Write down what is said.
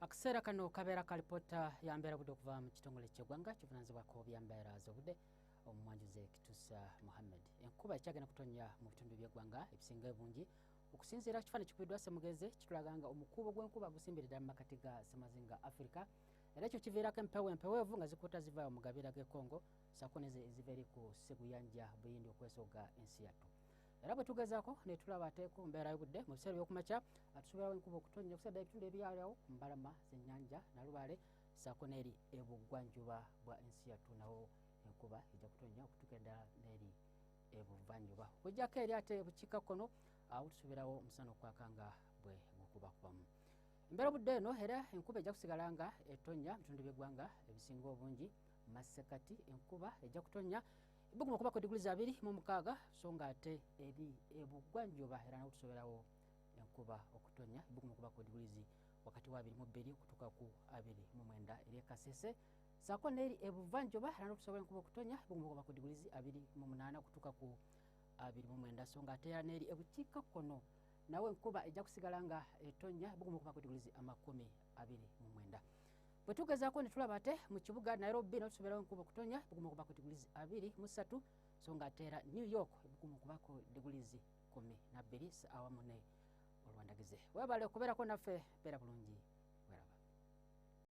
akaseera kano kabeera ka lipoota ya mbeera budde okuva mu kitongole kyegwanga kivunanyizibwako byambeera zobudde omumwanjuze kitusa muhammed enkuba ekyagenda kutonya mu bitundu byegwanga ebisinga ebungi okusinziira ku kifaananyi kikubiddwa semugenzi kitulaga nga omukuubo gw'enkuba gusimbiridda mu makati ga semazinga africa era ekyo kiviirako empewo empeweevu nga zikuuta zivaayo mu gabira g'ekongo saako nezo eziva eri ku seguyanja buyindi okwesooga ensi yattu era bwe tugezaako ne tulaba ate ku mbeera y'obudde mu biseera by'okumakya atusobola enkuba okutonnya okusadda ebitundu ebyaliawo ku mbalama z'ennyanja nalubaale saako n'eri ebuggwanjuba bwa ensi yattu nawo enkuba ejja kutonnya okutuuka eddala n'eri ebuvanjuba okujjako eri ate bukiika kkono awo tusuubirawo omusana okwaka nga bwe gukubakubamu embeera obudde eno era enkuba ejja kusigala nga etonnya mu bitundu by'eggwanga ebisinga obungi masekati enkuba ejja kutonnya buguma kubako diguli za biri mu mukaaga so nga ate eri ebugwanjuba era nawo tusoberawo enkuba okutonya buguma kubako digulizi wakati wa abiri mu bbiri okutuuka ku abiri mu mwenda eri ekasese saako neeri ebuvanjuba era nawo tusobera enkuba okutonya buguma kubako digulizi abiri mu munaana okutuuka ku abiri mu mwenda so nga ate era neeri ebukiika kkono nawe enkuba ejja kusigala nga etonya buguma kubako digulizi amakumi abiri mu mwenda bwe tugezaako ne tulaba ate mu kibuga nairobi no tusomerawo enkuba okutonya ebuguma okuba ku digulizi abiri mu ssatu so nga ate era new york ebuguma okuba ku digulizi kumi nabbiri saawa mune olwandagize webale okubeerako naffe beera bulungi weraba